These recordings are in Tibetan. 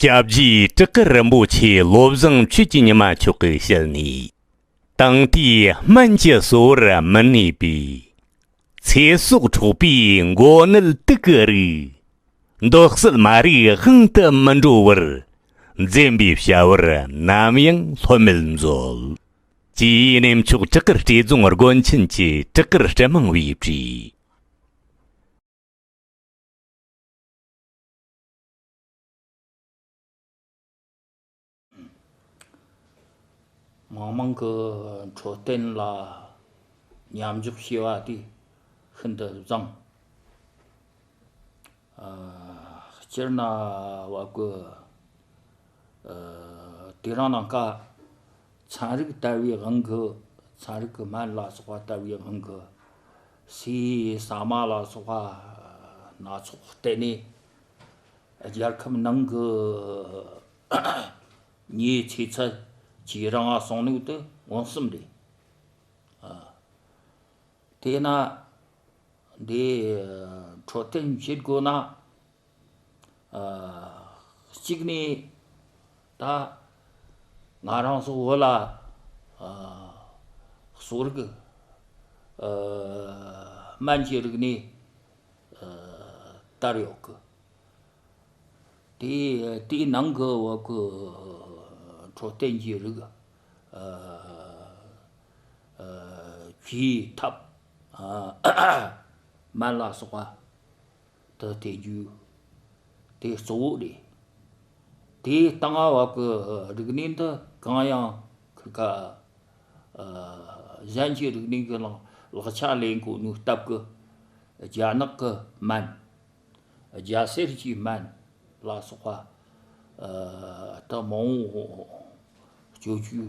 སྐྱབས་རྗེའི་བཀྲག་དཀར་རིན་པོ་ཆེ་བློ་བཟང་ཆོས་ཀྱི་ཉི་མ་མཆོག་གི་ཞལ་ནས། དང་དུས་སྨན་གྱི་གསོ་བར་མི་གནས་པའི། ཚེ་སྲོག་འཕྲོག་པའི་མགོ་ནད་དུག་གི་རིགས། འདོད་གསོལ་མ་རིག་དབང་དུ་མི་འགྲོ་བར། འཛེམ་པའི་བྱ་བར་ནམ་ཡང་ལྷོད་མེད་མཛོད། ཅེས་གནས་མཆོག་བྲག་དཀར་སྤྲེལ་རྫོང་དགོན་ཆེན་གྱི་བྲག་དཀར་སྤྲེལ་མང་བས་བྲིས། མང་མང་གི་འཕྲོད་བསྟེན་ལ་མཉམ་འཇོག་བྱས་པ་དེ་ཤིན་ཏུ་བཟང། སྤྱིར་ན་བ་ཀུ། དེ་རང་ནང་ཀ། ཚན་རིག་ལྟ་བའི་དབང་གིས་ཚན་རིག་གི་སྨན་ལ་སོགས་པ་ལྟ་བའི་དབང་གིས། སུས་ཟ་མ་ལ་སོགས་པ་སྣ་ཚོགས་བསྟེན་ནས། རྒྱལ་ཁབ་ནང་གི་མིའི་ཚེ་ཚད་ཇེ་རིང་བ་སོང་ནུས་དེ་མངོན་སུམ་རེད། དེས་ན། འདི་འཕྲོད་བསྟེན་བྱེད་དགོས་ན། གཅིག་ནས་ད་ང་རང་ཚོ་བོད་ལ་གསོ་རིག་སྨན་གྱི་རིག་གནས་དར་ཡོད་གི། དེ་དེའི་ནང་གི་འོག་གི་འཕྲོད་བསྟེན་གྱི་རིགས། གྱི་ཐབས། དམན་ལ་སོགས་པ་དུ་སྟེ་རྒྱུ། དེ་གཙོ་བོ་རེད། དེ་ལྟ་སྔ་བ་གི་རིག་གནས་འདི་གང་ཡང་ཁུ་ཁ། གཞན་གྱི་རིག་གནས་ཀྱི་ལག་ཆ་ལས་མཁོ་བསྣུར་སྟབས་ཀྱི། རྒྱ་ནག་གི་སྨན། རྒྱ་གསེར་གྱི་སྨན་ལ་སོགས་པ། དུ་མང་བོ་སྤྱོད་རྒྱུ།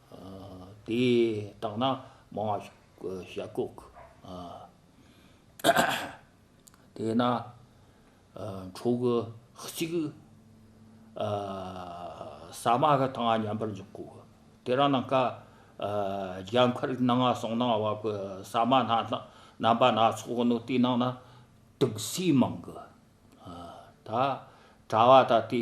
དེ་དག་ན་མ་བ་ཞག་བཀུག། དེ་ན་ཁྲོ་གུ་གཅིག། ས་མ་ག་དང་མཉམ་པར་འཇོག་གོ། དེ་རང་ན་ཀ། རྒྱ་མཁར་ན་ང་སོང་ན་བ་གུ་ས་མ་ན་རྣམ་པ་སྣ་ཚོགས་ནོ་དེ་ནང་ན་དུག་སྲིན་མང་གི། ད་གྲ་བ་ད་དེ།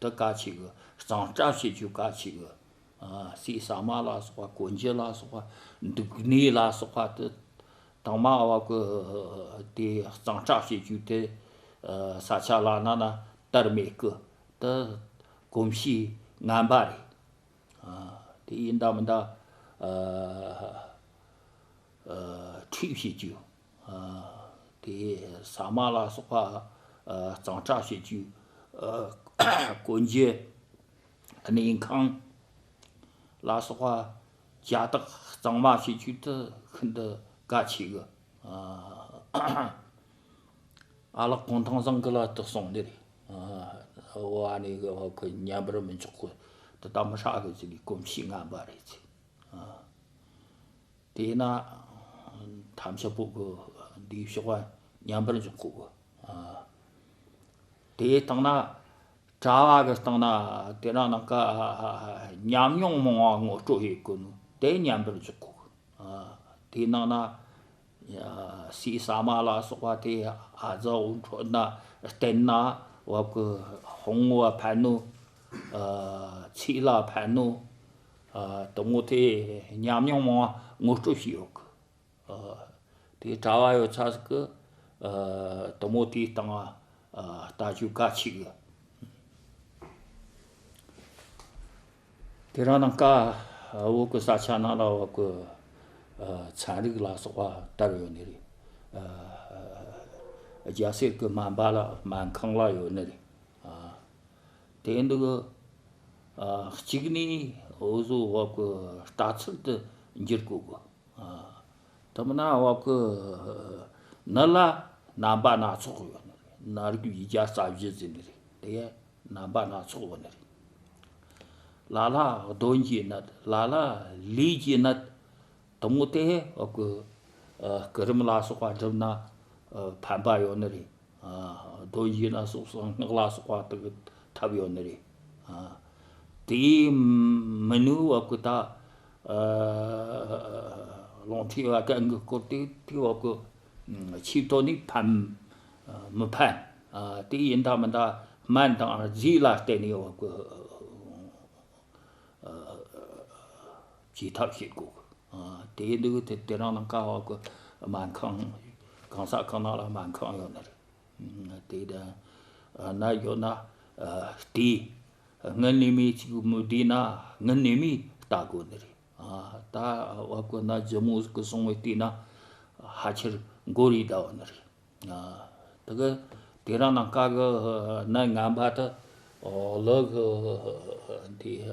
དུ་བཀའ་ཆེ་གི་གཙང་སྤྲ་བྱེད་རྒྱུ་བཀའ་ཆེ་གི་སྲས་ས་མ་ལ་སོགས་པ་གོ་འཇི་ལ་སོགས་པ་འདུག་གནས་ལ་སོགས་པ་དུ་དང་མ་བ་གི་དེ་གཙང་སྤྲ་བྱེད་རྒྱུ་དེ་ས་ཆ་ལ་ན་ན་དར་མེད་གི་དུ་གོམས་གཤིས་ངན་པ་རེད་དེ་ཡིན་འདའ་མི་འདའ། ཁྲུས་བྱེད་རྒྱུ། ཟ་མ་ལ་སོགས་པ་གཙང་སྤྲ་བྱེད་རྒྱུ། དཀོན་རྒྱལ་གནས་ཁང་ལ་སོགས་པ་བྱ་དག་གཙང་མ་བྱེད་རྒྱུ་དེ་ཤིན་ཏུ་དཀའ་ཆེ་གི། ཨ་ལགས་གུང་ཐང་བཟང་གི་ལ་དེ་གསུངས་ནི་རེད། བ་ནི་གི་ཉམས་པར་མི་འཇོག་གི་དེ་ལྟ་མི་ཧྲག་གི་ཚིག་གི་གོམས་གཤིས་ངན་པ་རེད། དེས་ན། དམ་བཅའ་པོ་གི་འདིའི་གཤོག་པ་མཉམ་པར་འཇོག་གོ། དེའི་སྟེང་ན། གྲྭ་བ་གི་སྟེང་ན་དེ་རང་ནང་ཀ་ཉམས་མྱོང་མང་བ་ངོ་སྤྲོད་ཡོད་དགོས་ནུ་དེ་མཉམ་པར་འཇོག་གོ། དེའི་ནང་ན། སྲིད་ས་མ་ལ་སོགས་པ་དེ་ཨ་ཛ་འོད་འཕྲོ་ན་སྟེང་ན་བབ་ཀྱི་ཧོང་བོ་ཕན་ནུ། ཚིག་ལ་ཕན་ནུ། དུ་མོ་དེ་ཉམས་མྱོང་མང་བ་ངོ་སྤྲོད་བྱས་ཡོད་གི། དེ་གྲྭ་བ་ཡོད་ཚ་ཟིག་གི། དུ་མོ་དེའི་སྟེང་ལྟ་སྤྱོད་ག་ཆེ་གི། དེ་རང་དང་ཀ་འོག་གི་ས་ཆ་ན་ལ་འོག་གི་ཚན་རིག་ལ་སོགས་པ་བལྟར་ཡོད་ནི་རེད། རྒྱ་སེར་གི་སྨན་པ་ལ་སྨན་ཁང་ལ་ཡོད་ནི་རེད། དེ་འདུག་གི། གཅིག་ནས་འོ་བཟོ་འོག་གི་ལྟ་ཚུལ་དུ་འགྱུར་དགོས། དེ་མིན་ན་འོག་གི་ནི་ལ་རྣམ་པ་སྣ་ཚོགས་ཡོད་ནི་རེད། ན་རིག་ཡིག་བརྒྱ་རྩ་བཞི་ཟིན་ནི་རེད་དེ་ཡང་རྣམ་པ་སྣ་ཚོགས་ཡོད་ནི་རེད། ལ་ལ་གདོན་གྱི་ནི་ལ་ལ་ལུས་ཀྱི་ནི་དུམ་བུ་དེ་སྐུ། སྐུ་རིམ་ལ་སོགས་པ་བསྒྲུབས་ན་ཕན་པ་ཡོད་ནི་རེད། རྡོ་རྗེ་ལ་སོགས་གསང་སྔགས་ལ་སོགས་པ་དག་གི་ཐབས་ཡོད་ནི་རེད། དེ་ཡིས་མི་ནུས་བ་ཀུན་ད། ལོང་ཁྲིད་བ་གན་གི་བསྐོར་དེ་ཐིག་བ་ཀུན། ཆིག་ཐོག་ནི་ཕན་མི་ཕན། དེ་ཡིན་ད་མི་ད་སྨན་དང་རྫས་ལ་བརྟེན་ནས་བ་ཀུན། བྱེད་ཐབས་ཤིག་དགོས། དེ་ཡིན་དུས་དེ་དེ་རང་ལ་དཀའ་བ་གོ། སྨན་ཁང། གང་ཟག་གང་ན་ལ་སྨན་ཁང་ཡོད་ན་རེད། དེ་དང། ན་ཡོད་ན། དེ། ངའི་གནས་མི་གཅིག་མུ་བསྡད་ན་ངའི་གནས་མི་ལྟ་དགོས་ནི་རེད། ད་བ་དཀོན་ན་རྫི་མོ་གི་སྲུང་བའི་སྟེང་ན། ཧ་ཆེར་མགོ་རིལ་ལྟ་བུ་ནི་རེད། དེ་གི། དེ་རང་ན་དཀའ་གི་ན་ངན་པ་དེ། ལོག་གི། དེ།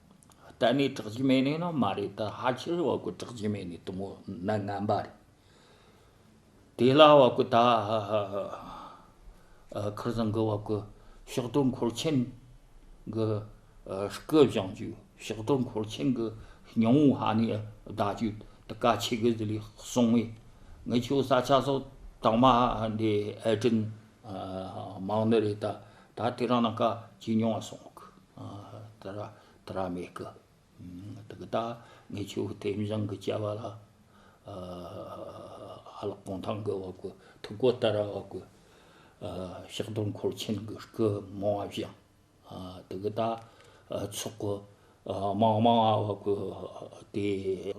གཏན་ནས་གྲགས་ཀྱི་མེད་ནས་ནི་མ་རེད་ད་ཧ་ཁྱི་རི་བ་ཀུ་གྲགས་ཀྱི་མེད་ནས་དུ་མོ་ནི་ངན་པ་རེད། དེ་ལ་བ་ཀུ་ད་ཁུར་བཟང་གི་བ་ཀུ་ཕྱག་དྲུག་འཁོར་ཆེན་གི་སྐུ་བཞེངས་རྒྱུ་ཕྱག་དྲུག་འཁོར་ཆེན་གི་སྙིང་བོ་ཧ་ནས་བཟླ་རྒྱུ་དེ་ཀ་ཆེ་གི་ཟི་ལིས་གསུངས་བས་ངི་ཆོས་ས་ཆ་སོགས་དང་མ་འདྲེས་ཨེ་དྲིན་མང་ནི་རེད་ད་ད་དེ་རང་ན་ཀ་ཇི་མྱོང་བ་སོང་གི། ད་ར་ད་ར་མེད་གི། ད་གི་ད་ངས་ཆུ་བོ་དེ་མྱང་གི་བྱ་བ་ལ། ཨ་ལགས་གོང་ཐང་གི་བ་གུ་ཐུག་གོ་ད་ར་བ་གུ། ཤག་དོར་འཁོར་ཆེན་གི་རྐུ་མོ་བ་བཞང། ད་གི་ད་ཚོགས་གི་དམག་དམངས་བ་གུ་དེ།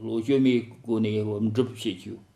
བློ་བཅོས་མའི་སྒོ་ནས་བུམ་སྒྲུབ་བྱེད་རྒྱུ།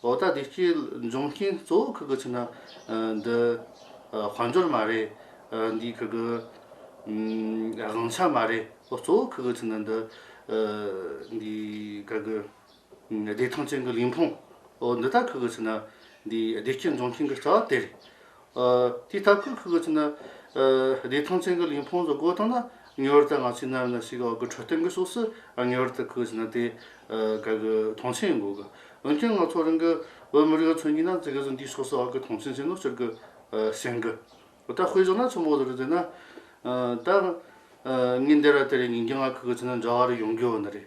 ལོ་ཟླ་དེ་གཅིག་འབྱུང་རྐྱེན་གཙོ་བོ་ཁག་གི་ཆེད་ན་འདི་དཔལ་འབྱོར་མ་རེད། འདིའི་ཁག་གི་དབང་ཆ་མ་རེད། གཙོ་བོ་ཁག་གི་ཆེད་ན་འདི་འདིའི་ཁག་གི་བདེ་ཐང་ཅན་གྱི་ལུས་ཕུང་འདི་དག་ཁག་གི་ཆེད་ན་འདིའི་བདེ་སྐྱིད་འབྱུང་རྐྱེན་གྱི་རྩ་བ་དེ་རེད། དེ་ལྟར་ཁུར་ཁུར་གྱིས་ཕྱིན་ན། བདེ་ཐང་ཅན་གྱི་ལུས་ཕུང་སུ་སྒོ་བཏང་ན་ངེས་པར་དུ་ང་ཚོའི་གནའ་བོའི་ན་ཟུག་གི་འོག་གི་འཕྲོད་བསྟེན་གྱི་ཕྱོགས་སུ་ངེས་པར་དུ་ཁུར་ཕྱིན་ན་དེ་ག་གི་མཐོང་ཆེན་ཡིན་དགོས་གི། འོན་ཀྱང་ང་ཚོ་རང་གི་བོད་མི་རིགས་ལ་མཚོན་གྱིན་ན་འཛི་གི་ཟིན་དེའི་ཕྱོགས་སུ་འོག་གི་མཐོང་ཆེན་ཅན་དུ་གྱུར་གི་ཞེན་གི། ད་དཔེ་བཞག་ན་ཆུ་མོ་ལོ་རུ་ཟེར་ན། ད་ངས་འདི་ར་དེ་རེད་ངེས་ཀྱང་ང་ཁུར་ཁུར་ཕྱིན་ན་འདྲ་བ་རེ་ཡོང་གི་ཡོད་ནི་རེད།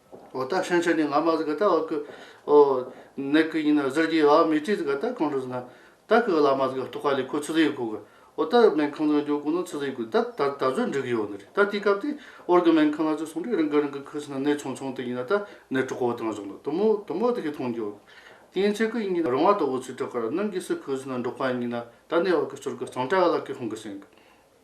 ཨོ་ད་ཧྲེང་ཆོས་ནི་ང་མ་ཟི་ག་ད་བ་ཀུ། ཨོ། ནེ་ཀུ་ཡིན་ན་ཟིར་གྱི་ཡ་བ་མི་ཏི་ཟི་ག་ད་གང་རུ་ཟི་ན། ད་ཀུ་ག་ལ་མ་ཟི་ག་ཏོག་ག་ལི་ཁོ་ཆུ་ཟི་ཡི་གུ་གུ། ཨོ་ད་སྨན་ཁང་ལོ་འཇོག་གུ་ན་ཆུ་ཟི་ཡི་གུ་ད་ད་ད་གཟོད་འགྲིག་གི་ཡོ་ནི་རེད་ད་དེའི་སྐབས་དེ་ཨོར་གི་སྨན་ཁང་ལ་ཆུ་སོང་དུས་རང་གི་རང་གི་ཁུ་སི་ན་ནད་ཆུང་ཆུང་དེ་ཡིན་ན་ད་ནད་དྲུག་གོ་དང་བཞོག་ན་དུ་མོ་དུ་མོ་དེ་གི་ཐོང་གྱོ། དེ་ཡིན་ཚེ་ཀུ་ཡིན་གྱི་ན་རང་བ་ཏོག་བུ་ཚུལ་དྲག་ག་ར་གནང་གི་སི་ཁུ་སི་ན་འགྲོག་པ་ཡིན་གྱི་ན་ད་ནད་བ་ཀུ་སྤྱོར་གུ་གཙང་དྲག་ག་ལ་ཀུ་ཧོང་གི་སེང་གུ།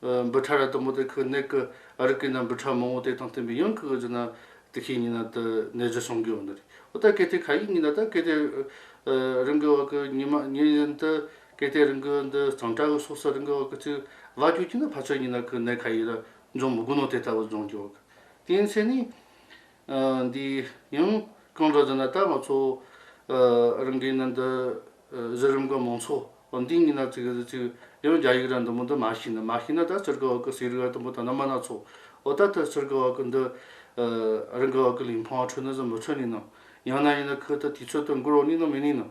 འབུ་ཕྲ་ར་དུམ་བུ་དེ་ཁུ་ནེག་གི་ཨ་རིག་གི་ན་འབུ་ཕྲ་མང་བོ་དེ་དང་བསྟུན་པའི་ཡང་ཁུ་གི་རྒྱུ་ན་དེ་ཁའི་ཉི་ན་དུ་ནད་གཞི་བྱུང་གི་ཡོད་འདི་རེད་འོ་ད་གལ་ཏེ་ཁ་ཡིག་ཉི་ན་ད་གལ་ཏེ་རིང་གི་བར་གི་ཉི་མ་ཉིན་བཞིན་དུ་གལ་ཏེ་རིང་གི་འདི་གཙང་སྤྲ་གི་སོགས་སུ་རིང་གི་བར་གི་ཚིག་བརླག་རྒྱུ་གྱི་ན་ཕ་ཚོད་ཉི་ན་ཁུ་ནེག་ཁ་ཡིག་ར་འབྱུང་མི་དགོས་ནོ་དེ་ལྟ་བུ་འབྱུང་གི་འོ་གི་དེའི་ཚེ་ནི། འདི་ཡང་གང་འདྲ་ཟེར་ན་ད་ང་ཚོ་རང་གི་ནང་དུ་གཞི་རིམ་གྱི་མང་ཚོགས་འདི་གཉིས་ན་ཚིག་ཡང་རྒྱ་ཡིག་རང་དུ་མོ་འདི་མ་ཤེས་ན་མ་ཤེས་ན་ད་ཚུར་གི་འོག་གི་ཟས་རིགས་ར་དང་པོ་ད་ནང་མ་ནང་ཚོགས་འོ་ད་ཐུ་ཚུར་གི་འོག་གི་འདི་རང་གི་འོག་གི་ལིང་ཕང་ཁྲོད་ན་ཟིན་མི་ཚུར་ནས་ནང་ཡང་ན་ཡིན་ན་ཁུལ་དུ་དུས་ཚོད་དུ་འགོར་འོག་ནས་ནང་མི་ནས་ནང།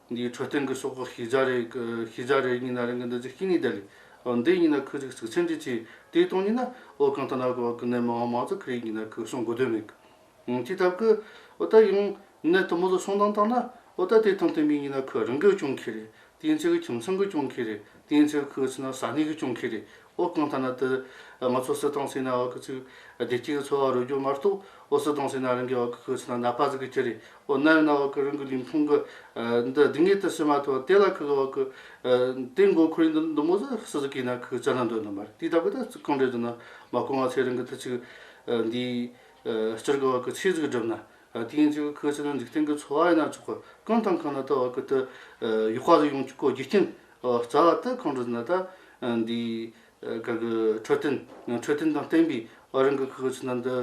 འདིའི་འཕྲོད་བསྟེན་གྱི་སྲོག་ཁག་ཤེས་བྱ་རེད། ཤེས་བྱ་རེ་གཉིས་ན་རེ་འགའ་འདི་ཚོའི་གཅིག་གཉིས་བསྡད། འདི་གཉིས་ན་ཁོས་རིགས་གཅིག་མཚན་འབྲེལ་བྱས། དེའི་སྟོང་ཉིད་ན་ཨོ་གང་ཐ་ན་གོ་བ་གི་ནད་མང་བ་མང་ཚ་གི་རིགས་གཉིས་ན་ཁོས་སྲོང་དགོས་དོན་མེད། ཅི་ལྟ་བུ། ཨོ་ད་ཡང། ནད་དུ་མོ་ལ་སྲོང་བཏང་བཏང་ན། ཨོ་ད་དེ་དང་དེ་མིན་གཉིས་ན་ཁོས་རང་གིས་སྐྱོང་གི་རེད། དེའི་ཚེ་གི་ཁྱིམ་ཚང་གིས་སྐྱོང་གི་རེད། དེའི་ཚེ་གི་ཁོའི་ཚེ་ན་ས་གནས་ཀྱིས་སྐྱོང་གི་རེད། ཨོ་གང་ལྟར་ན་དེ་ང་ཚོ་སྲིད་ཏང་སྲིད་ན་བ་ཀི་ཚིག་བདེ་སྐྱིད་ཀི་འཚོ་བ་རོལ་རྒྱུ་མ་གཏོགས་ཨོ་སྲིད་ཏང་སྲིད་ན་རང་གི་བ་ཀི་ཁུ་ཚིག་ན་ནག་པ་ཟིག་གི་ཁྱི་རེད་ཨོ་ནའི་ན་བ་ཀི་རང་གི་ལུས་ཕུང་གི་འདི་སྡིག་ངེས་དེ་སྲིད་མ་ཐོ་དེ་ལ་ཁུ་གི་བ་ཀི་དེ་མགོ་ཁུ་རེད་འདི་འདི་མོ་ཟི་སི་ཟི་གི་ན་ཁུ་ཙ་ན་འདོད་འདོད་མ་རེད་དེ་ད་གི་ད་ཚིག་གང་འདྲས་འདོད་ན་མ་གོ་ང་ཚོས་རང་གི་དེ་ཚིག་འདི་སྤྱིར་གི་བ་ཀི་ཆེ་ཟིག་བསྒྲུབ་ན་དེ་ཡིན་ཚིག་གི་ཁུ་ཚིག་ན་འཇིག་རྟེན་གི་འཚོ་བ་ཡིན་ན་ཆོག་གི་གང་དང་གང་ན་ད་བ་ཀི་དེ་ཡོག་པ་ཟིག་ཡོང་ཆོག་གི་རྒྱུ་རྐྱེན་རྩ་བ་ཏི་ཁོང་ཁྲོ་ཟིན་ད་ལྟ་འདི་གར་གྱི་འཕྲོད་བསྟེན་འཕྲོད་བསྟེན་དང་བསྟན་པའི་ཨ་རིང་གི་ཁུལ་གྱི་ཚུལ་དང་འདི་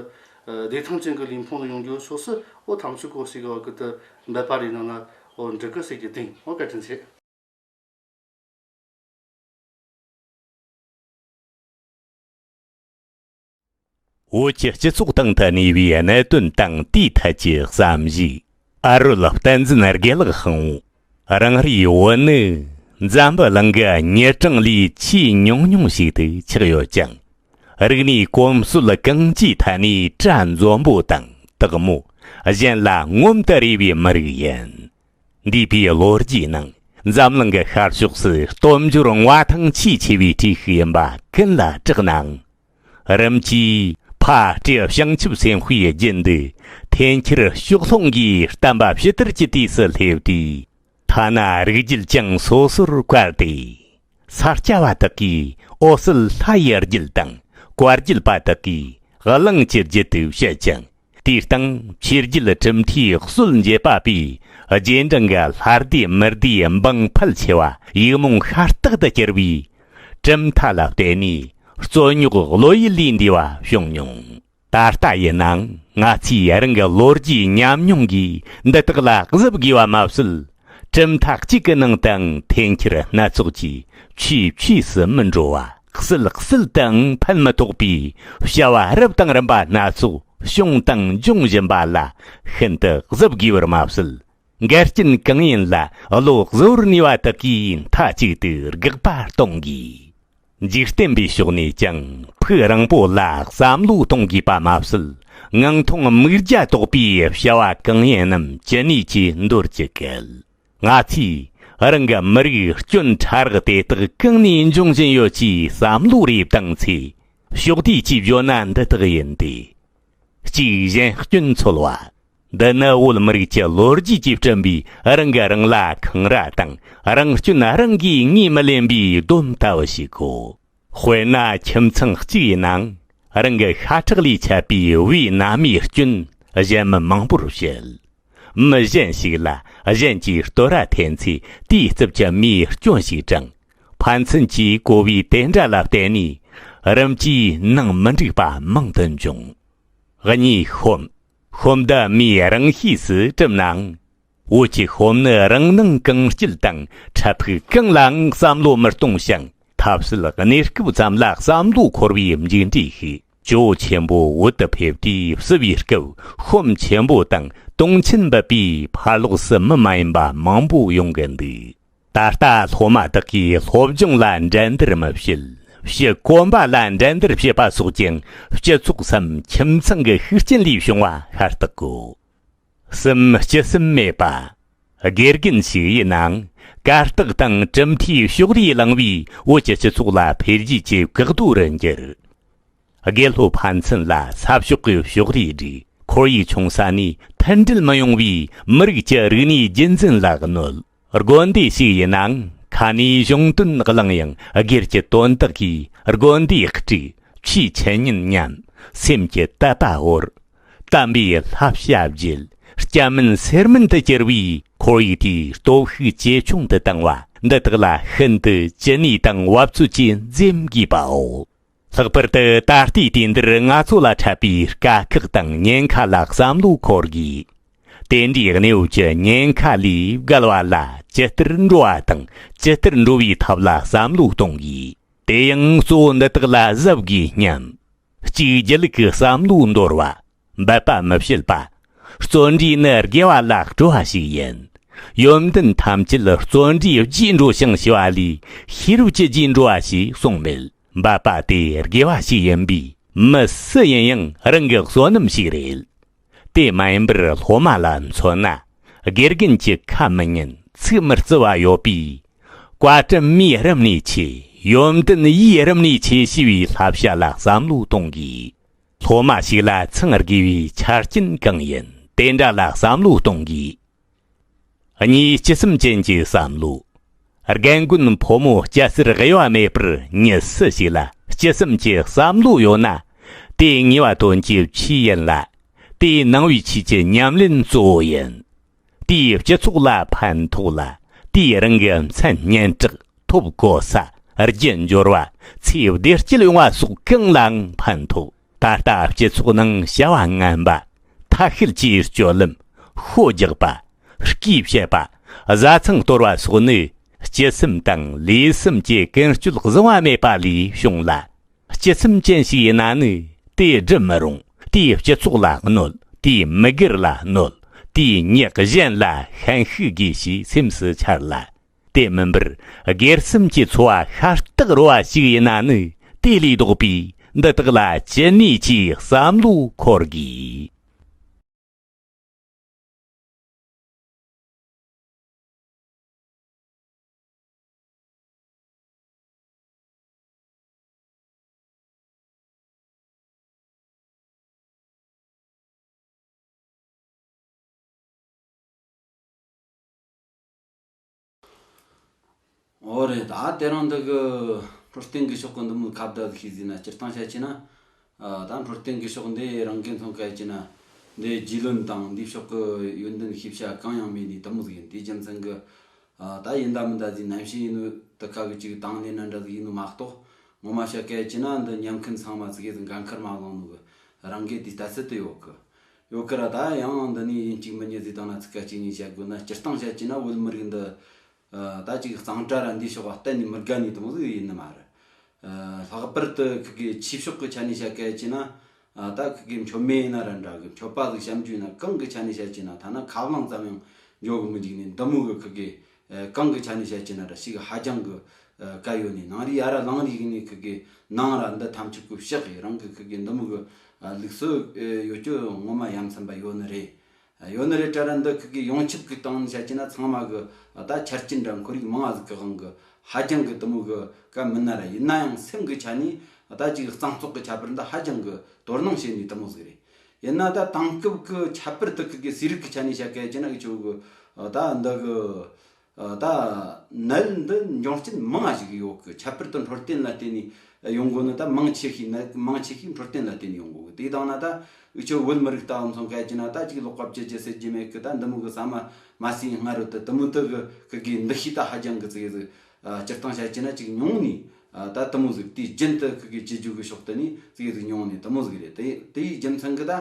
བདེ་ཐང་ཅན་གྱི་གླིང་ཕུང་ལ་ཡོང་རྒྱུའི་ཕྱོགས་སུ་འོ་ཐམ་ཆུ་སྐོར་ཞིག་གི་འོག་ཏུ་འབད་པ་རེ་གནང་ན་འོ་འགྲིག་གི་ཟེར་གྱི་སྟེང་འོ་བཀའ་དྲིན་ཆེ། བོད་ཀྱི་སྤྱི་ཚོགས་སྟེང་དུ་གནས་པའི་གནད་དོན་དང་དེའི་ཐད་ཀྱི་བསམ་གཞིགས། ཨ་རོལ་བསྟན་འཛིན་དགེ་ལགས་དབང་བོ་རང་རེའི་བོད་ནི་འཛམ་བུ་གླིང་གི་ཉེ་གྲངས་ལས་ཆེས་ཉུང་ཉུང་ཞིག་ཏུ་ཆགས་ཡོད་ཅིང། རིག་གནས་གོམས་སྲོལ་གང་ཅིའི་ཐད་ནས་གྲྭ་འཛོམས་པོ་དང་དག་མོ་གཞན་ལ་ངོམ་དུ་རེ་བའི་མི་རིགས་ཡིན། འདས་པའི་ལོ་རྒྱུས་ནང་འཛམ་གླིང་གི་ཤར་ཕྱོགས་སུ་སྟོབས་འབྱོར་དངོས་ཐང་ཆེས་ཆེ་བའི་གྲས་ཤིག་ཡིན་པ་ཀུན་ལ་གྲགས་ནའང། རིམ་གྱིས་ཕ་སྤྲེའུ་བྱང་ཆུབ་སེམས་དཔའི་རྒྱུད་འདི་འཐེན་འཁྱེར་ཕྱོགས་ལྷུང་གིས་བསྟན་པ་ཕྱི་དར་གྱི་དུས་སུ་སླེབས་དུས། ཐ་ན་རིགས་རྒྱུད་ཀྱང་སོ་སོར་བཀར་ཏེ། ས་སྐྱ་བ་དག་གིས་འོ་སིལ་ལྷ་ཡི་རྒྱུད་དང་བཀའ་རྒྱུད་པ་དག་གིས་གླིང་གི་རྒྱུད་དུ་བཤད་ཅིང། དེའི་སྟེང་ཕྱི་རྒྱུད་གྲུབ་མཐའི་སྲོལ་འབྱེད་པ་པའི་རྗེས་འབྲང་གི་ལྷ་སྡེ་མི་སྡེ་འབངས་ཕལ་ཆེ་བ་ཡིག་རྨོངས་ཤ་སྟག་ཏུ་གྱུར་པའི་གྲུབ་མཐའ་ལ་བརྟེན་ནས་རྩོད་རྙོག་བློ་ཡུལ་ལས་འདས་པ་བྱུང་མྱོང། ད་ལྟ་ཡིན་ནའང་ང་ཚོས་རང་གི་ལོ་རྒྱུས་ཉམས་མྱོང་གིས་འདི་དག་ལ་གཟིབ་དགོས་པ་མ་ཟད། གྲུབ་མཐའ་གཅིག་གི་ནང་དང་འཐེན་འཁྱེར་སྣ་ཚོགས་ཀྱིས་ཆུས་ཆུས་སུ་མི་འགྲོ་བ། བསིལ་བསིལ་དང་ཕན་མི་ཐོགས་པའི་བྱ་བ་རབ་དང་རིམ་པ་སྣ་ཚོགས་བྱུང་དང་འབྱུང་བཞིན་པ་ལ་ཤིན་ཏུ་གཟབ་དགོས་པར་མ་ཟད། འགལ་རྐྱེན་གང་ཡིན་ལ་བློ་གཟུར་ནུས་པ་དག་གིས་མཐའ་གཅིག་ཏུ་དགག་པ་གཏོང་དགོས། འཇིག་རྟེན་པའི་ཕྱོགས་ནས་ཀྱང་ཕུགས་རིང་པོ་ལ་བསམ་བློ་གཏོང་དགོས་པ་མ་ཟད། ངང་ཐུང་དམིགས་རྒྱ་དོགས་པའི་བྱ་བ་གང་ཡིན་རྣམས་ཅི་ནུས་ཀྱིས་འདོར་གྱི་གལ། ང་ཚོས་རང་གི་མི་རིགས་སྐྱོན་ཕྲ་རགས་དེ་དག་གང་ནས་འབྱུང་བཞིན་ཡོད་ཅེས་བསམ་བློ་རེ་བཏང་ཚེ། ཕྱོགས་བསྡུས་ཀྱིས་བརྗོད་ན་འདི་དག་ཡིན་ཏེ། གཅིག་གཞན་སྐྱོན་འཚོལ་བ། འདི་ནི་བོད་མི་རིགས་ཀྱི་ལོ་རྒྱུས་ཀྱིས་བསྐྲུན་པའི་རང་གིས་རང་ལ་འཁང་ར་དང་རང་སྐྱོན་རང་གིས་ངོས་མི་ལེན་པའི་སྡོམ་ལྟ་བུ་ཞིག་གོ། དཔེར་ན་ཁྱིམ་ཚང་གཅིག་ཡིན་ནའང་རང་གི་ཤ་ཁྲག་ལས་ཆད་པའི་བུའི་མནའ་མའི་སྐྱོན་གཞན་མི་མང་པོར་བཤད། མི་གཞན་ཞིག་ལ་གཞན་གྱིས་བསྟོད་ར་འཐེན་ཚེ་དེའི་རྩུབ་ཀྱི་མིའི་སྐྱོན་ཞིག་དྲངས། ཕན་ཚུན་གྱི་གོ་བའི་དེ་འདྲ་ལ་བརྟེན་ནས་རིམ་གྱིས་ནང་མི་འགྲིག་པ་མང་དུ་འབྱུང། གཉིས་ཤོམ། ཤོམ་འདི་མིའི་རང་ཤེས་སུ་གྲུབ་ནའང། བོད་ཀྱི་ཤོམ་ནི་རང་སྣང་གང་སྐྱིད་དང་འཕྲལ་ཕུགས་གང་ལའང་བསམ་བློ་མི་གཏོང་ཞིང་ཐབས་ཤེས་གནས་སྐབས་ཙམ་ལ་བསམ་བློ་འཁོར་བའི་མཇུག་འབྲས་ཤིག་ཇོ་བོ་ཆེན་པོ་འོད་དུ་ཕེབས་ཏེ་བསུ་བའི་སྐབས་ཤོམ་ཆེན་པོ་དང་དུང་ཆེན་འབབ་པས་ཕར་ལོགས་སུ་མི་མ་ཡིན་པ་མང་པོ་ཡོང་གི་འདུག་ད་ལྟ་སློབ་མ་དག་གིས་སློབ་སྦྱོང་ལ་འགྲན་བསྡུར་མི་བྱེད་ཞེས་དཀོན་པ་ལ་འགྲན་བསྡུར་བྱེད་པ་སོགས་ཀྱང་སྤྱི་ཚོགས་སམ་ཁྱིམ་ཚང་གི་ཤུགས་རྐྱེན་ལས་བྱུང་བ་ཤ་སྟག་གོ། གསུམ་སྤྱི་གསུམ་མེད་པ། དགེ་རྒན་ཞིག་ཡིན་ནའང་གར་སྟེགས་དང་གྲུབ་མཐའི་ཕྱོགས་རིས་བསླངས་པའི་བོད་ཀྱི་སྤྱི་ཚོགས་ལ་འཕེལ་རྒྱས་ཀྱི་འགག་རྡོ་རུ་འགྱུར། དགེ་སློབ་ཕན་ཚུན་ལ་ས་ཕྱོགས་ཀྱི་ཕྱོགས་རིས་སྒྲིག་ཁོར་ཡུག་ཆུང་ས་ནས་མཐུན་སྒྲིལ་མི་ཡོང་བའི་མི་རིགས་ཀྱི་རིག་གནས་རྒྱུན་འཛིན་ལ་གནོད། དགོན་སྡེ་ཞིག་ཡིན་ནའང་ཁ་ནས་གཞུང་དོན་བླངས་ཡང་སྒེར་གྱི་དོན་དག་གིས་དགོན་སྡེ་དཀྲུགས། ཆུའི་ཆུ་ཉེན་སྙམ། སེམས་ཀྱི་དད་པ་བོར། དམ་པའི་ལྷ་བྱ་བརྒྱུད། སྐྱ་མིན་སེར་མིན་དུ་གྱུར་པའི་ཁོར་ཡུག་དེའི་སྟོབས་ཤུགས་ཇེ་ཆུང་དུ་བཏང་བ་འདི་དག་ལ་ཤིན་ཏུ་ཅི་ནུས་དང་བབ་ཚོད་ཀྱིས་འཛེམ་དགོས་པའོ། ལྷག་པར་དུ་ད་ལྟའི་དུས་འདིར་ང་ཚོ་ལ་འཕྲད་པའི་དཀའ་ཁག་དང་ཉེན་ཁ་ལ་བསམ་བློ་འཁོར་དགོས། དེ་འདྲའི་གནས་བབ་ཀྱི་ཉེན་ཁ་ལས་བརྒལ་བ་ལ་ཇི་ལྟར་འགྲོ་བ་དང་ཇི་ལྟར་འགྲོ་བའི་ཐབས་ལ་བསམ་བློ་གཏོང་དགོས། དེ་ཡང་གཙོ་བོ་འདི་དག་ལ་གཟབ་དགོས་སྙམ། གཅིག་སྒྱིད་ལུག་གི་བསམ་བློ་འདོར་བ། འབད་པ་མི་བྱེད་པ། བརྩོན་འགྲུས་ནི་དགེ་བ་ལ་སྤྲོ་བ་ཞིག་ཡིན། ཡོན་ཏན་ཐམས་ཅད་བརྩོན་འགྲུས་བརྒྱས་འགྲོ་ཞིང་ཞི་བ་ལས་ཤེས་རབ་ཀྱི་རྒྱས་འགྲོ་བ་ཞིག་གསུངས་མེད། འབད་པ་དེ་དགེ་བ་ཞིག་ཡིན་པས་མི་སུ་ཡིན་ཡང་རང་གི་བསོད་ནམས་ཤིག་རེད། དེ་མ་ཡིན་པར་སློབ་མ་ལ་མཚོན་ན་དགེ་རྒན་གྱི་ཁ་མི་ཉན་ཚིག་མི་རྩི་བ་ཡོད་པས། བཀའ་དྲིན་མའི་རིམ་ནས་ཆེ་ཡོན་ཏན་དབྱེའི་རིམ་ནས་ཆེ་ཞེས་པའི་བསླབ་བྱ་ལ་བསམ་བློ་གཏོང་དགོས། སློབ་མ་ཞིག་ལ་འཚང་དགོས་པའི་ཆ་རྐྱེན་གང་ཡིན་དེ་འདྲ་ལ་བསམ་བློ་གཏོང་དགོས། གཉིས་སྤྱི་སེམས་ཅན་གྱི་བསམ་བློ། རྒན་རྒོན་ཕོ་མོ་སྐྱ་སེར་དབྱེ་བ་མེད་པར་མྱི་སུ་ཞིག་ལ་སྤྱི་སེམས་ཀྱི་བསམ་བློ་ཡོད་ན། དེའི་ངེས་བ་དོན་གྱི་ཕྱིས་ཡིན་ལ། དེའི་ནང་བའི་ཕྱིས་ཀྱི་ཉམས་ལེན་གཙོ་བོ་ཡིན། དེས་སྤྱི་ཚོགས་ལ་ཕན་ཐོགས་ལ། དེས་རང་གི་མཚན་སྙན་གྲགས་ཐོབ་གོ་ས་རྒྱུ་འབྱོར་བ་ཚེའི་བདེ་སྐྱིད་ཡོང་བ་སོགས་གང་ལའང་ཕན་ཐོགས། ད་ལྟ་སྤྱི་ཚོགས་ནང་བྱ་བ་ངན་པ་ཐ་ཤལ་གྱིས་སྤྱོད་ལམ་ཤོད་རྒྱག་པ། སྐྱིད་བཤད་པ། བཟའ་ཚང་གཏོར་བ་སོགས་ནི་སྤྱི་སེམས་དང་ལུས་སེམས་ཀྱི་ཀུན་སྤྱོད་བཟང་བ་མེད་པ་ལས་བྱུང་ལ། སྤྱི་སེམས་ཅན་ཞིག་ཡིན་ན་ནི་དེ་སྒྲུབ་མི་རུང་དེས་སྤྱི་ཚོགས་ལ་གནོད་དེས་མི་སྒེར་ལ་གནོད་དེས་མྱི་གཞན་ལ་ཤན་ཤུགས་དགོས་ཞེས་སེམས་སུ་འཆར་ལ། དེ་མིན་པར་སྒེར་སེམས་ཀྱི་འཚོ་བ་ཤ་སྟག་རོལ་བ་ཞིག་ཡིན་ན་ནི་དེ་ལས་ལྡོག་པའི་འདི་དག་ལ་ཅི་ནུས་ཀྱིས་བསམ་བློ་འཁོར་དགོས། འོ་རེད་ད་དེ་རིང་འདི་གི་འཕྲོད་བསྟེན་དགེ་ཕྱོགས་ཀྱི་འདི་མོའི་ཁ་བརྡ་གི་ཤེས་ཟིན་ན་སྤྱིར་བཏང་བཤད་ཆེ་ན། ད་འཕྲོད་བསྟེན་དགེ་ཕྱོགས་འདི་རང་གིས་མཐོང་སྐད་ཅེ་ན། འདི་རྒྱུས་ལོན་དང་འདི་ཕྱོགས་ཀྱི་ཡོན་ཏན་ཤེས་བྱ་གང་ཡང་མེད་འདི་དུ་མོ་ཡིན་དེའི་རྒྱུ་མཚན་གྱི། ད་ཡིན་ད་མིན་ད་གཟིགས་ནན་ཞིག་ཡིན་ནོ་དེ་ག་གི་ཅིག་དང་ལེན་ན་འདྲ་གི་ཡིན་ནོ་མ་གཏོགས། ངོ་མ་བཤད་སྐད་ཅེ་ན་འདི་ཉན་མཁན་ཚང་མ་ཚིག་གིས་འགན་ཁུར་མ་བླངས་ནོ་གི་རང་གིས་དེ་ལྟ་ཚུལ་དུ་ཡོད་གི། ཡོད་ཀི་ར་ད་ཡང་འདི་ནས་ཡིན་གཅིག་མི་ཉི་ཟིག་དང་ན་ཚིག་ག་གཅིག་གཉིས་བཤད་དགོས་ན་སྤྱིར་བཏང་བཤད་ཀྱི་ན་བོད་མི་རིགས་འདི་ད་ཅིག་གཙང་སྦྲ་ར་འདིས་ཕྱོགས་པ་གཏན་ནས་མི་དགའ་ནས་དང་ཟིག་ཡིན་ནི་མ་རེད། ལྷག་པར་དུ་ཁི་གེ་ཆིབ་ཕྱོགས་གི་ཆ་ནས་བཤད་གལ་ཀྱི་ན་ད་ཁི་གེ་མཆོད་མེ་ཡིན་ན་ར་འདྲ་གི་མཆོད་པ་ཟིག་བཤམ་རྒྱུ་ཡིན་ན་གང་གི་ཆ་ནས་བཤད་ཀྱི་ན་ཐ་ན་ཁ་བསླངས་ཙམ་ཡང་འཇོག་གི་མི་འཇུག་ནས་འདི་མོ་གི་ཁི་གེ་གང་གི་ཆ་ནས་བཤད་ཀྱི་ན་ར་ཞིག་ཧ་ཀྱང་གི་དཀའ་ཡོད་ནས་ནང་རིག་ཨ་ར་ལང་རིག་ནི་ཁུ་གེ་ནང་ར་འདི་ཐམས་ཅད་ཀུ་ཤག་གི་རང་གི་ཁུ་གེ་འདི་མི་གི་ལུགས་སུ་ཡོད་ཀྱི་ངོ་མ་ཡམ་སེམས་པ་ཡོད་ནི་རེད་ཡོད་ནི་རེད་ཀྲ་ར་འདི་ཁུ་གེ་ཡོངས་ཁྱབ་གི་སྟེང་ནས་བཤད་ཀྱི་ན་ཚང་མ་གི་ད་ཆར་ཅི་འདྲ་འཁོར་རིགས་མང་ཨ་ལི་ཀི་གང་གི་ཧ་ཀྱང་གི་དི་མི་གི་ཀ་མིན་ན་ར་ཡིན་ན་ཡང་སེམས་གི་ཆ་ནས་ད་ཅིག་གཙང་བཙོག་གི་ཁྱད་པར་འདི་ཧ་ཀྱང་གི་དོར་སྣང་བྱེད་ནས་དི་མི་ཟིག་རེད་ཡིན་ན་ད་དེང་སྐབས་ཀྱི་ཁྱད་པར་དག་གི་གི་ཟས་རིགས་ཀྱི་ཆ་ནས་བཤད་གལ་ཆེ་ན་གི་ཆོ་གི་ད་འདི་གི་ད་ནད་འདི་འབྱུང་རྐྱེན་མང་ཞིག་ཡོད་གི་ཁྱད་པར་དུ་འཕྲོད་བསྟེན་ལ་བརྟེན་ནས་ཡོང་དགོས་ནི་ད་མང་ཆེ་ཤོས་ནད་མང་ཆེ་ཤོས་འཕྲོད་བསྟེན་ལ་བརྟེན་ནས་ཡོང་དགོས་གི་དེ་དང་ན་ད་གི་ཆོ་བོད་མི་རིགས་ད་འོ་མཚུངས་གལ་ཆེ་ན་ད་ཅིག་ལོག་པ་བྱེད་རྒྱུ་སེལ་རྒྱུ་མེད་གི་ད་འདི་མོ་གི་ཟ་མ་མ་ཟོས་སྔ་རོལ་དུ་དུ་མོ་དག་གི་གི་གི་འདུ་ཤེས་ད་ཧ་ཅང་གི་ཚིག་ཟིག་སྤྱིར་བཏང་བཤད་ཀྱིན་ན་ཅིག་མྱོང་ནས་ད་དུ་མོ་ཟིག་དེའི་རྒྱུན་དུ་ཁུ་གེ་སྤྱི་རྒྱུག་གི་ཕྱོགས་དུ་ནས་ཟིག་ཡོད་དུ་མྱོང་ནས་དུ་མོ་ཟིག་རེད་དེའི་རྒྱུ་མཚན་གི་ད་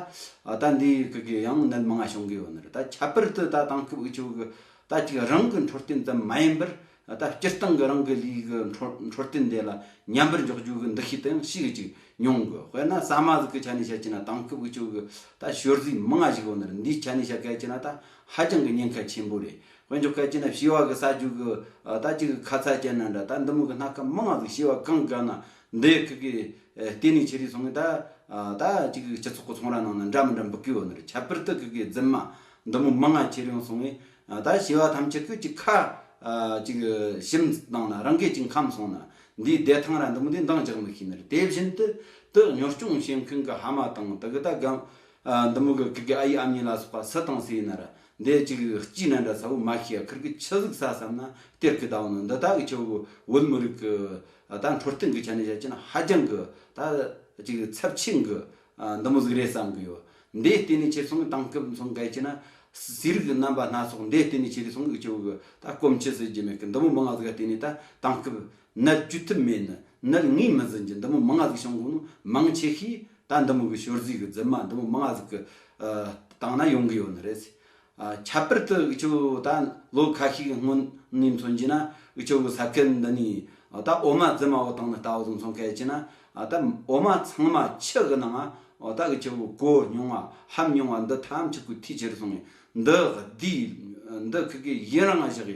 ད་འདིའི་ཁུ་གེ་ཡང་ནད་མང་ང་བྱུང་གི་ཡོད་ནི་རེད་ད་ཁྱད་པར་དུ་ད་དང་ཁུ་བུག་ཆུ་བུག་གི་ད་ཅིག་རང་གི་འཕྲོད་བསྟེན་དུ་མ་ཡིན་པར་ད་སྤྱིར་བཏང་གི་རང་གི་ལུས་གི་འཕྲོད་བསྟེན་དེ་ལ་ཉམས་པར་འཇོག་རྒྱུ་གི་འདུ་ཤེས་དེའང་ཤེས་གི་ཅིག་མྱོང་དགོས་དཔེར་ན་ཟ་མ་ཟིག་གི་ཆ་ནས་བཤད་ཀྱིན་ན་དང་ཁུ་བུག་ཆུ་བུག་གི་ད་བཤོལ་ཟིག་མང་ང་བཞུགས་ཡོད་ནི་རེད་འདིའི་ཆ་ནས་བཤད་གལ་ཀྱིན་ན་ད་ཧ་ཅང་གི་ཉེན་ཁ་ཆེན་པོ་རེད་དཔལ་འབྱོར་སྐད་ཅིག་ན་ཞི་བ་གི་ས་རྒྱུ་གི་ད་གཅིག་གི་ཁ་ཚ་ཅན་ན་འདྲ་ད་འདི་མུག་གི་སྣ་སྐམ་མི་ང་ཟིག་ཞི་བ་གང་གི་ན་འདི་ཡི་ཁུག་གི་ལྟེ་ནས་ཆེ་རིགས་སོང་གི་ད་ད་གཅིག་གི་སྤྱི་ཚོགས་གི་ཚོང་ར་ནང་ན་འདྲ་མི་འདྲ་འབུ་གུའི་འོད་ནི་ཁྱད་པར་དུ་གུག་གི་རྫི་མ་འདི་མོ་མི་ང་ཁྱེར་ཡོང་སོང་གི་ད་ཞི་བ་ཐམས་ཅད་ཁུག་ཅིག་ཁ་ཅིག་ཞིམ་བཏང་ན་རང་སྐད་ཅིག་འཁམ་སོང་ན་འདིའི་བདེ་ཐང་ར་འདི་མོ་དེ་འདང་རྒྱག་མི་ཤེས་ནི་རེད་དེ་བཞིན་དུ་དུ་གཉོར་སྐྱོང་བྱེད་མཁན་གི་ཧ་མ་དང་དུ་གི་ད་གམ་འདི་མོ་གི་གུག་གི་ཨ་ཡིག་ཨམ་ཡིག་ལ་སོགས་པ་སུ་དང་སུ་ཡིན་ན་ར་འདས་གཅིག་སྐྱིད་ན་འདྲ་ཚ་བོ་མ་ཤི་ཡ་ཁིར་གི་ཆི་གཟིག་ས་བསམ་ན་སྟེར་གི་ད་བོ་ནོ་འདི་དག་གི་ཆུ་བོད་མི་རིགས་ཀི་ད་འཕྲོ་བསྟེན་གི་ཆ་ནས་བཤད་ཅིན་ཧ་ཅང་གི་ད་གཅིག་ཚབ་ཆེན་གི་འདི་མོ་གཟིག་རེད་བསམ་གི་ཡོ་འདས་བསྟེན་ནི་ཆེ་སོང་གི་དང་སྐབས་མཚུངས་གལ་ཆེ་ན་སི་རིགས་རྣམ་པ་སྣ་ཚོགས་འདས་བསྟེན་ནི་ཆེ་རི་སོང་གི་ཆུ་བོ་གི་ད་སྐོམ་ཆི་ཟི་རྒྱུ་མེད་གི་འདི་མོ་མི་ང་གཟིག་ག་བསྟེན་ནི་ད་དང་སྐབས་ནད་བཅོས་ཐུབ་མེད་ནི་ནད་ངོས་མི་འཛིན་གྱི་འདུ་མོ་མི་ང་གཟུགས་བྱུང་གོང་ནི་མང་ཆེ་ཤོས་ད་འདུ་མོ་གི་ཞོར་གཟུགས་གི་རྫི་མ་འདུ་མོ་མི་ང་གཟུགས་ཀྱི་སྟེང་ན་ཡོང་གི་ཡོད་ནི་རེད། ཁྱད་པར་དུ་འུ་ཅོ་ད་ལོ་ཁ་ཤས་ཀྱི་སྔོན་ནས་མཚོན་གྱི་ན་འུ་ཅོ་གི་ས་ཁུལ་འདི་ནས་ད་འོ་མ་རྫི་མ་བོ་སྟེང་ནས་ལྟ་བུ་མཚོན་གལ་ཆེ་ན་ད་འོ་མ་ཚང་མ་ཕྱི་གི་ནང་ད་འུ་ཅོ་གི་གོ་མྱོང་བ་ཧམ་མྱོང་བ་འདི་ཐམས་ཅད་ཀུ་ཐི་ཆེར་སོང་ངས་འདི་འདི་ཁུལ་གྱི་ཡིན་རང་བཞག་གི་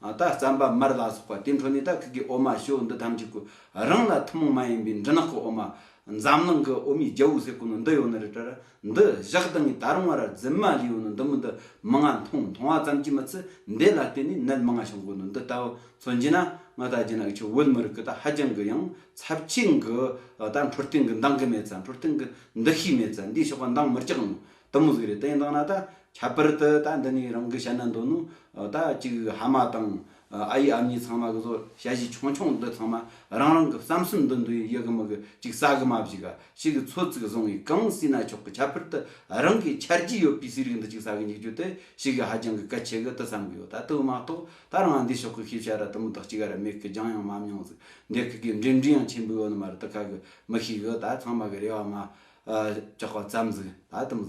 ད་རྩམ་པ་མར་ལ་སོགས་པ་དེ་འཕྲོ་ནས་ད་ཁུག་གི་འོ་མ་ཞོ་འདི་ཐམས་ཅད་ཀུ་རང་ལ་ཐུན་མོང་མ་ཡིན་པའི་འབྲི་ནག་གི་འོ་མ། འཛམ་གླིང་གི་འོ་མའི་རྒྱལ་བོ་ཟེར་དགོས་ནི་འདི་ཡོད་ནི་རེད་དྲ། འདི་བཞག་ལྡང་ངས་ད་རུང་བ་ར་རྫི་མ་ལས་ཡོད་ནི་འདི་མི་འདི་མི་ང་མཐོང་མཐོང་བ་ཙམ་གྱིས་མི་ཚི་འདི་ལ་བརྟེན་ནས་ནད་མི་ང་བྱུང་དགོས་ནི་འདི་ལྟ་བུ་མཚོན་གྱིས་ན་ང་ད་རྒྱ་ནག་ཆུ་བོད་མི་རིགས་ཀྱི་ད་ཧ་ཅང་གི་ཡང་ཚབས་ཆེན་གི་ད་འཕྲོ་རྟེན་གི་འདང་གི་མེད་ཙང་འཕྲོ་རྟེན་གི་འདི་ཤེས་མེད་ཙང་འདིའི་ཞོགས་པ་འདང་མི་རྒྱག་ནི་དིང་གཟུགས་རེད་དེ་འདང་ན་ད་ཁྱད་པར་དུ་ད་འདི་ནས་རང་གི་བཤད་ན་འདོད་ནོ། ད་ཅིག་ཧ་མ་དང་ཨ་ཡེ་ཨབ་གཉིས་ཚང་མ་གི་བཟོ་དཔྱད་གཞི་ཆུང་ཆུང་འདི་ཚང་མ་རང་རང་གི་བསམ་སེམས་འདི་འདུ་ཡི་ཡི་གི་མི་གི་ཅིག་ཟ་གི་མ་བཞི་ག་ཞིག་གི་ཚོད་ཚིག་བཟུང་ཡི་གང་སྲིད་ན་ཆོག་གི་ཁྱད་པར་དུ་རང་གི་འཆར་རྒྱུ་ཡོད་པའི་ཟས་རིགས་འདི་ཅིག་ཟ་གི་འཇུག་རྒྱུ་དེ་ཞིག་གི་ཧ་ཅང་གི་གལ་ཆེ་གི་དུ་བསམ་གི་ཡོད་ད་དུ་མ་གཏོགས་ད་རང་འདིའི་ཕྱོགས་གི་ཤེས་བྱ་ར་དུ་མ་དག་ཅིག་ར་མེད་གི་རྒྱང་ཡང་མ་མྱོང་ཟིག་འདི་གི་གི་འབྲེལ་འདྲིས་ཡང་ཆེན་པོའི་ཡོད་ནི་མ་རེད་དུ་ཁ་གི་མི་ཤེས་གི་ད་ཚང་མ་གི་རེ་བ་མ་བཅག་པ་བརྩམས་ཟིག་ད་དིང།